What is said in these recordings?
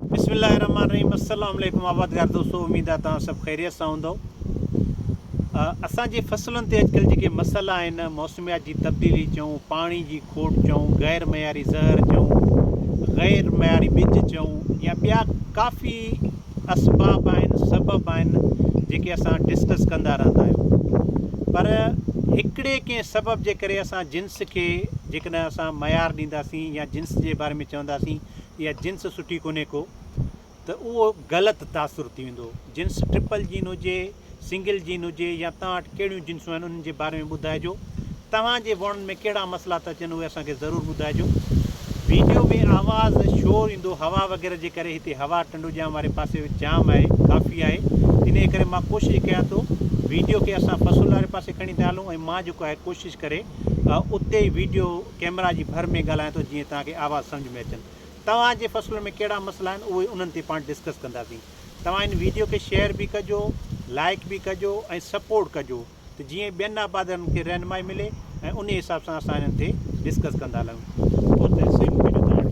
بسم الله الرحمٰن الرحيم السلام عليڪم آبادگار دوستو اميد آ توهان سڀ خيريت سان هوندؤ اسان جي فصلن تي اڄڪلھ جيڪي مسئلا آهن موسميات جي تبديلي چئون پاڻي جي کوٽ چئون غير معياري زهر چئون غير معياري ٻج چئون يا ٻيا ڪافي اسباب آهن سبب آهن جيڪي اسان ڊسڪس ڪندا رهندا آهيون پر هڪڙي ڪنهن سبب جي ڪري اسان جنس کي جيڪڏهن اسان معيار ڏينداسين يا جنس جي باري ۾ چونداسين يا جنس سٺي ڪونهي ڪو ته اهو غلط تاثر ٿي ويندو. جنس ٽرپل جين هجي، سنگل جين هجي يا توهان وٽ ڪهڙيون جنسون آهن انهن جي باري ۾ ٻڌائجو. توهان جي ووڻن ۾ ڪهڙا مسئلا ٿا اچن اهي اسان کي ضرور ٻڌائجو. ويڊيو ۾ آواز شور ايندو هوا وغيره جي ڪري هتي هوا ٽنڊوڄام واري پاسي جام آهي ڪافي آهي انهي ڪري مان ڪوشش ڪيان ٿو ويڊيو کي اسان بسول واري پاسي کڻي ٿا هلون ۽ مان جيڪو آهي ڪوشش ڪري اتي ويڊيو ڪيمرا جي ڀر ۾ ڳالهايان ٿو جيئن توهان کي آواز سمجهه ۾ اچن. توهان جي فصلن ۾ ڪهڙا مسئلا آهن اهي انهن تي پاڻ ڊسڪس ڪنداسين. توهان هن ويڊيو کي شيئر به ڪجو، لائيڪ به ڪجو ۽ سپورٽ ڪجو ته جيئن ٻين آبادارن کي رهنمائي ملي ۽ انهي حساب سان اسان هنن تي ڊسڪس ڪندا هلون. بوتل سيم ڪيڏو ته آڻي.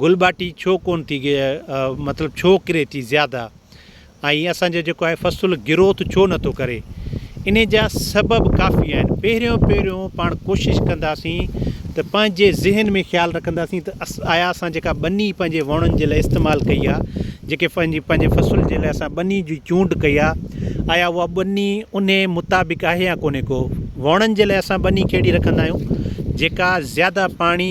گل ٻاٽي ڇو ڪون ٿي مطلب ڇو ڪري ٿي زياده ۽ اسان جو جيڪو آهي فصل گروٿ ڇو نه ٿو ڪري انهي جا سبب ڪافي آهن پهريون پهريون پاڻ ڪوشش ڪنداسين ته پنهنجي ذهن ۾ خيال رکنداسين ته آيا اسان جيڪا ٻني پنهنجي وڻن جي لاء استعمال ڪئي آهي جيڪي پنهنجي پنهنجي فصل جي لاء اسان ٻني جي چونڊ ڪئي آهي آيا اها ٻني انهي مطابق آهي يا ڪونهي ڪو وڻن جي لاء اسان ٻني کي اهڙي رکندا آهيون جيڪا زياده پاڻي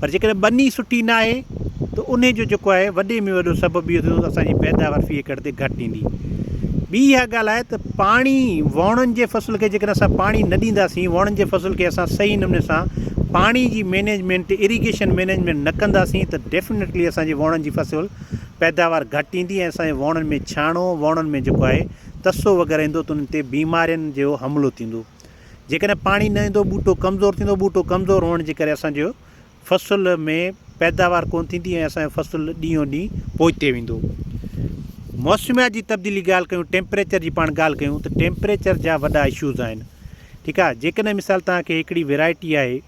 پر جيڪڏهن ٻني سٺي نه آهي ته انهي جو جيڪو آهي وڏي ۾ وڏو سبب اهو ٿيندو ته اسان جي پيداوار في ايڪڙ تي گهٽ ايندي. ٻي اها ڳالهه آهي ته پاڻي وڻن جي فصل کي جيڪڏهن اسان پاڻي نه ڏينداسين وڻن جي فصل کي اسان صحيح نموني سان پاڻي جي مينيجمينٽ اريگيشن مينيجمينٽ نه ڪنداسين ته ڊيفنيٽلي اسان جي وڻن جي فصل پيداوار گهٽ ايندي ۽ اسان جي وڻن ۾ ڇاڻو وڻن ۾ جيڪو آهي تسو وغيره ايندو ته انهن تي بيمارين جو حملو ٿيندو جيڪڏهن پاڻي نه ايندو ٻوٽو ڪمزور ٿيندو ٻوٽو ڪمزور هئڻ جي ڪري اسان جو فصل ۾ پيداوار ڪونه ٿيندي ۽ اسان جو فصل ڏينهون ڏينهن پوئتي ويندو موسميات جي تبديلي ڳالهه ڪيون ٽيمپريچر جي پاڻ ڳالهه ڪيون ته ٽيمپريچر جا وڏا اشوز آهن ٺيڪ آهي جيڪڏهن مثال توهان کي هڪڙي ويرائٽي آهي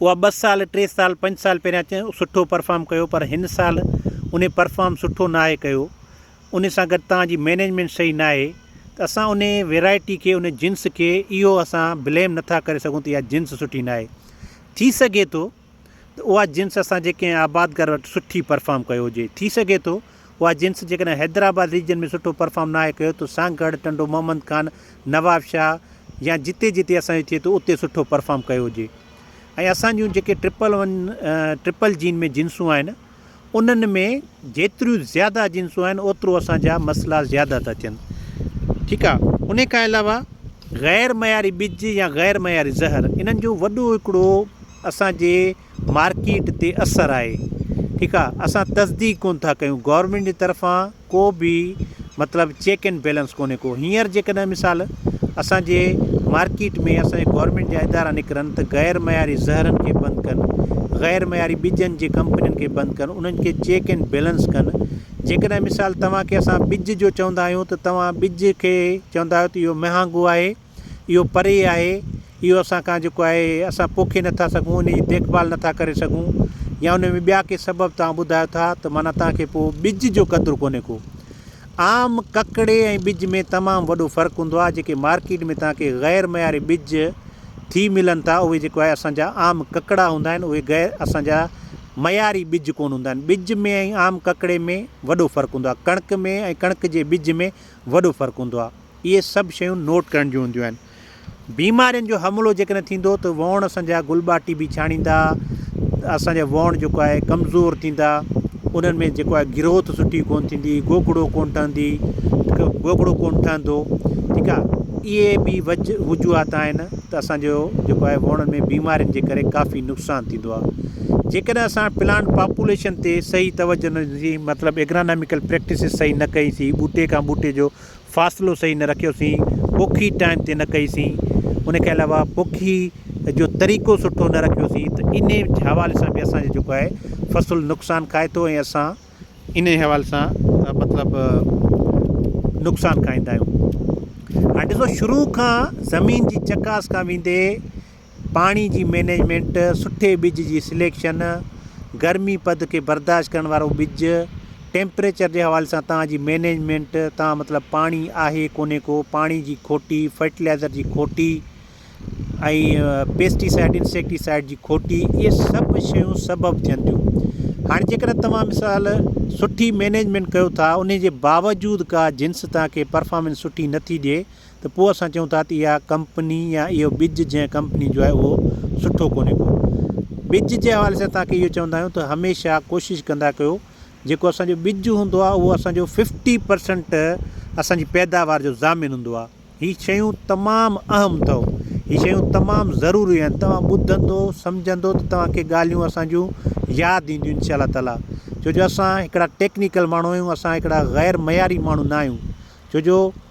اها ٻه سال ٽي سال پنج سال پهريان سٺو پرفارم ڪيو پر هن سال ان پرفارم سٺو ناهي ڪيو ان سان گڏ توهان جي مينيجمينٽ صحيح ناهي ته اسان ان ويرائٽي کي ان جنس کي اهو اسان بليم نٿا ڪري سگهون ته اها جنس سٺي ناهي ٿي سگهي ٿو ته اها جنس اسان جي ڪنهن آبادگار وٽ سٺي پرفارم ڪيو هجي ٿي سگهي ٿو اها جنس جيڪڏهن حيدرآباد ريجن ۾ سٺو پرفارم ناهي ڪيو ته سانگهڙ ٽنڊو محمد خان نواب شاهه يا جتي جتي اسان جو ٿئي ٿو اتي سٺو پرفارم ڪيو هجي ۽ اسان جون جيڪي ٽرپل ون ٽرپل جين ۾ جنسون آهن انهن ۾ جيتريون زياده جنسون آهن اوترو اسان جا مسئلا زياده ٿا ٿين ٺيڪ آ انهي کان علاوه غير معياري ٻج يا غير معياري زهر انهن جو وڏو هڪڙو اسان جي مارڪيٽ تي اثر آهي ٺيڪ آ اسان تصديق ڪون ٿا ڪيون گورمينٽ جي طرفان ڪو به مطلب چيڪ اينڊ بيلنس ڪونهي ڪو هينئر جيڪڏهن مثال اسانجي مارڪيٽ ۾ اسانجي گورمينٽ جا ادارا نڪرن ته غير معياري زهرن کي بند ڪن غير معياري ٻجن جي ڪمپنين کي بند ڪن انهن کي چيڪ اينڊ بيلنس ڪن جيڪڏهن مثال توهان کي اسان ٻج جو چوندا آهيون ته توهان ٻج کي چوندا آهيو ته اهو مهانگو آهي اهو پري آهي، اهو اسان کان جيڪو آهي اسان پوکي نٿا سگهون، ان جي ديک ڀال نٿا ڪري سگهون يا ان ۾ ٻيا ڪي سبب توهان ٻڌايو ٿا ته معنيٰ توهان کي پوء ٻج جو قدر ڪونهي ڪو. عام ڪڪڙي ۽ ٻج ۾ تمام وڏو فرق هوندو آهي، جيڪي مارڪيٽ ۾ توهان کي غير معياري ٻج ٿي ملن ٿا اهي جيڪو آهي اسان جا عام ڪڪڙا هوندا آهن، اهي غير اسان جا معياري ٻج ڪونه هوندا آهن. ٻج ۾ ۽ عام ڪڪڙي ۾ وڏو فرق هوندو آهي. ڪڻڪ ۾ ۽ ڪڻڪ جي ٻج ۾ وڏو فرق هوندو آهي. اهي سڀ شيون نوٽ ڪرڻ جون هونديون آهن. بيمارين جو حملو جيڪڏهن ٿيندو ته ووڻ اسان جا گل ٻاٽي به ڇاڻيندا، اسان جا ووڻ جيڪو آهي ڪمزور ٿيندا، انهن ۾ جيڪو آهي گروٿ سٺي ڪونه ٿيندي، گوگڙو ڪونه ٺهندي، گوگڙو ڪونه ٺهندو، ٺيڪ آهي. اهي به وجه وجوهات آهن ته اسان جو جيڪو آهي ووڻن ۾ بيمارين جي ڪري ڪافي نقصان ٿيندو آهي. جيڪڏهن اسان پلانٽ پاپوليشن تي صحيح توجه نه ڏني مطلب ايگراناميڪل پريڪٽسز صحيح نه ڪئي سي ٻوٽي کان ٻوٽي جو فاصلو صحيح نه رکيوسين، پوکي ٽائيم تي نه ڪئي سين، ان کان علاوه پوکي جو طريقو سٺو نه رکيو سين ته انهي حوالي سان به اسان جو جيڪو آهي فصل نقصان کائي ٿو ۽ اسان انهي حوالي سان مطلب نقصان کائيندا آهيون. هاڻي ڏسو شروع کان زمين جي چڪاس کان ويندي پاڻي جي مينيجمينٽ، سٺي ٻج جي سليڪشن، گرمي پد کي برداشت ڪرڻ وارو ٻج، ٽيمپريچر جي حوالي سان توهان جي مينيجمينٽ، توهان مطلب پاڻي آهي ڪونهي ڪو، پاڻي جي کوٽي، فرٽيلائزر جي کوٽي ۽ پيسٽي سائيڊ انسيڪٽي سائيڊ جي کوٽي اهي سڀ شيون سبب ٿين ٿيون. هاڻي جيڪڏهن توهان مثال سٺي مينيجمينٽ ڪيو ٿا انهي جي باوجود ڪا جنس توهان کي پرفامنس سٺي نٿي ڏئي ته پوء اسان چئون ٿا ته اها ڪمپني يا اهو ٻج جنهن ڪمپني جو آهي اهو سٺو ڪونهي ڪو. ٻج جي حوالي سان توهان کي اهو چوندا آهيون ته هميشه ڪوشش ڪندا ڪيو جيڪو اسان جو ٻج هوندو آهي اهو اسان جو ففٽي پرسنٽ اسان جي پيداوار جو ضامن هوندو آهي. هي شيون تمام اهم اٿئو. هي شيون تمام ضروري آهن. توهان ٻڌندو سمجهندو ته توهان کي ڳالهيون اسان جون ياد اينديون انشاء الله تعاليٰ. ڇو جو اسان هڪڙا ٽيڪنيڪل ماڻهو آهيون اسان هڪڙا غير معياري ماڻهو نه آهيون. ڇو جو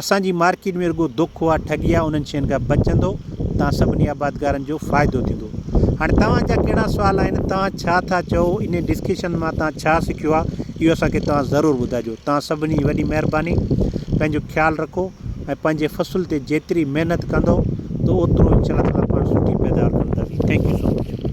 اسان جي مارڪيٽ ۾ رڳو دوکو آ ٺڳي آ انهن شين کان بچندو تان سڀني آبادگارن جو فائدو ٿيندو هاڻي توهان جا ڪهڙا سوال آهن توهان ڇا ٿا چئو انهي ڊسڪشن مان توهان ڇا سکيو آ اهو اسان کي توهان ضرور ٻڌاجو توهان سڀني جي وڏي مهرباني پنهنجو خيال رکو ۽ پنهنجي فصل تي جيتري محنت ڪندو تو اوترو انشاء الله تعالٰي پاڻ سٺي پيداوار ڪنداسين ٿينڪ يو سو مچ.